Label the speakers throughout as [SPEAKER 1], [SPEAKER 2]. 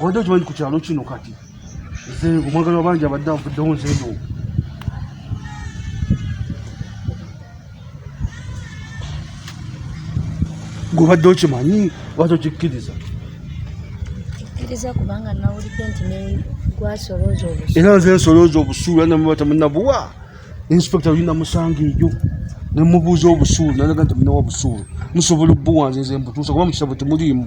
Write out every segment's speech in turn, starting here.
[SPEAKER 1] obadde okimanyi ku kyalo kino kati nze omwagala wabangi abadde avuddewo nze eno gobadde okimanyi wati okikkiriza
[SPEAKER 2] era nze nsolooza
[SPEAKER 1] obusuulu anamubata munabuwa inspector olina musanga eyo nemubuuza obusuulu nalaga nti munawa busuulu musobola obubuwanze nze mbutuusa kuba mukitabo temuliimu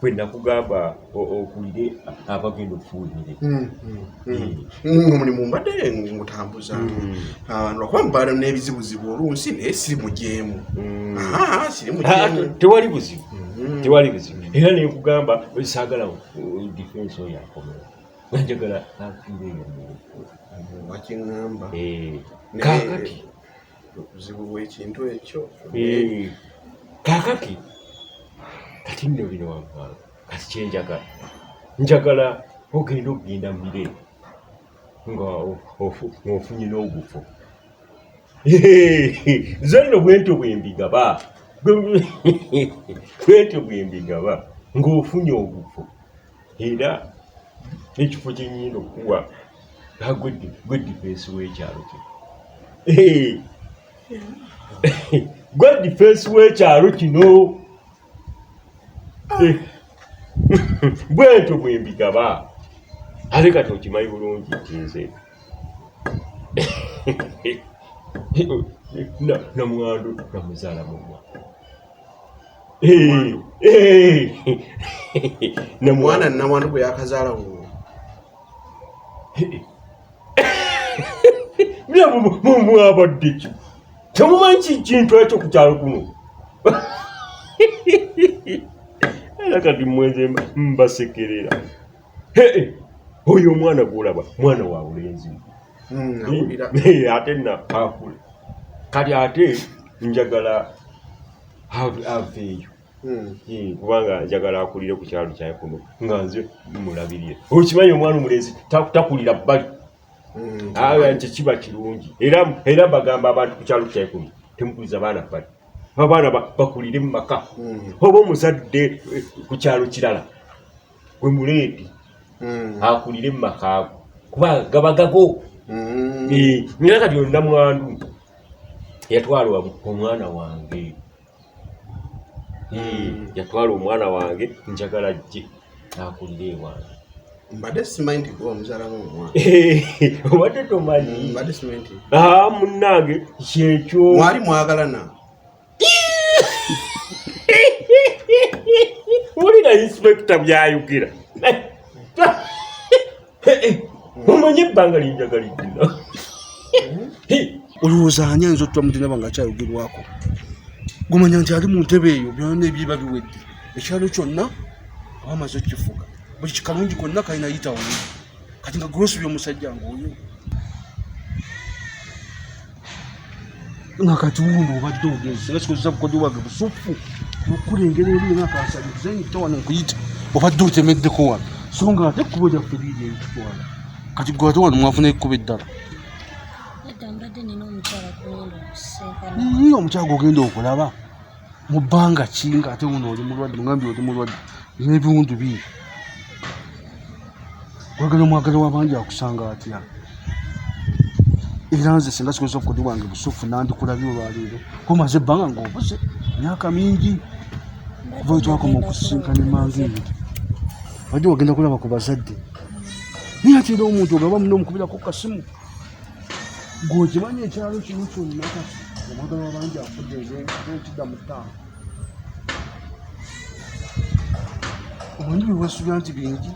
[SPEAKER 3] kwe nakugamba okulire abagenda okuwulire hmm, hmm, hmm. eh. nga
[SPEAKER 4] mulimu mbadde ngutambuza ah, lwakuba mubaala n'ebizibuzibu olunsi naye siri mujeemu ah, ah,
[SPEAKER 3] tewali buzibu tewali buzibu era nekugamba saagala uh, defense oyo akomera nanjagala afiire eyo wakiŋamba
[SPEAKER 4] eh, kakati
[SPEAKER 3] obuzibu
[SPEAKER 4] bwekintu ekyo eh. kakati
[SPEAKER 3] kati nno bino wamwalo kati kyenjagala njagala ogenda okugenda mire nga ofunye n'ogufo nze nno bwentyo bwembigaba bwentyo bwembigaba ng'ofunye ogufo era n'ekifo kye nnyina okuwa nga gwe difensi w'ekyalo kye gwe difensi w'ekyalo kino bwentyo bwe mbigaba ate kati okimanyi bulungi nti nze namwandu namuzala mumwa
[SPEAKER 4] ne mwana nawandu gwe yakazaala wo
[SPEAKER 3] mwabaddeki temumanyi kikintu ekyo ku kyalo kuno era kati mwenze mbasekerera oyo omwana gwolaba mwana wa bulenzi hmm, eh, ate nakakula kati ate njagala aveeyo hmm. eh, kubanga njagala akulire ku kyalo kyaye kuno nga nze mulabirire okimanyi omwana omulenzi takulira bbali hmm, awe nti kiba kirungi era bagamba abantu ku kyalo kyaye kuno temukuliza baana bbali abaana bakulire mu maka oba omuzadde eh, ku kyalo kirala gwe muleedi mm. akulire mu makaago kuba gaba gago mm. eh, nina kati olina mwandu yatwalwa omwana wange eh, yatwala omwana wange njagala jje akulire ewange mbadde simanyi
[SPEAKER 4] nti gwe omuzaala womwana obadde
[SPEAKER 3] tomanyi mbadde simanyi nti
[SPEAKER 4] ah, munnange
[SPEAKER 3] kyekyo mwali mwagalana wulira inspekita byayugira omanyi ebbanga linjagaliddina
[SPEAKER 1] olowooza ani ayinza otutwa mutinaba nga akyayogerwako gumanya nti ali mu ntebe eyo byona ebyiba biwedde ekyalo kyonna abamaze okifuga buli kikalungi konna kalina yitawo kati nga grocery omusajja ng'oyo nga kati wuuno obadde ogenze nga kikozesa bukodyo bwage busuffu okulengera eri nga kansaliza nyita wano nkuyita obadde otemeddeko wano so nga ate ekkubo lyaffe liiri eritutwala kati gwe ate wano mwafuna ekkubo eddala omukyala gwogenda okulaba mu bbanga ki nga ate wuno oli mulwadde mugambye oli mulwadde n'ebiwundu bii wagala omwagala wabangi akusanga atya era nze singa sikozesa obukodi bwange busufu nandikulabye olwaleero komaze ebbanga ngaobuze myaka mingi kuva wetwakoma okusisinkana emanga eyo wajja wagenda kulaba ku bazadde naye ate era omuntu ogaba muno omukubirako kasimu gwe okimanyi ekyalo kino kyonna kati omwagala wabangi afudde enkida mu ttaano omanyi byewasuubira nti bingi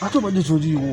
[SPEAKER 1] ate obadde toliiwo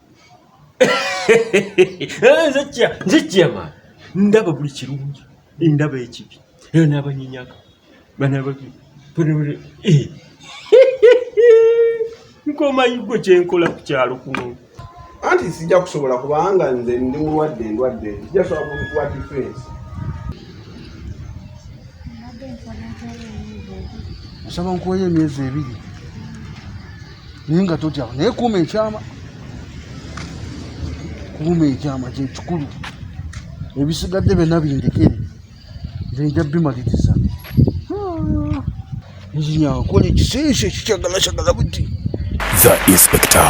[SPEAKER 3] nzijjama ndaba buli kirungi ndaba ekibi era n'abanyinyaka banababi eh. nkomayigwe kyenkola ku kyalo kuno anti sijja
[SPEAKER 4] kusobola kubanga nze ndi mulwadde ndwadde sijja sobola kukuwa difensi
[SPEAKER 1] nsaba nkuweyo emyezi ebiri naye nga totya naye kuuma ekyama kuuma ekyama kyekikulu ebisigadde byonna bindekere nze nja bimaliriza
[SPEAKER 5] nzinyakola
[SPEAKER 1] ekiseeso ekikyagalakyagala buti
[SPEAKER 5] the
[SPEAKER 1] inspector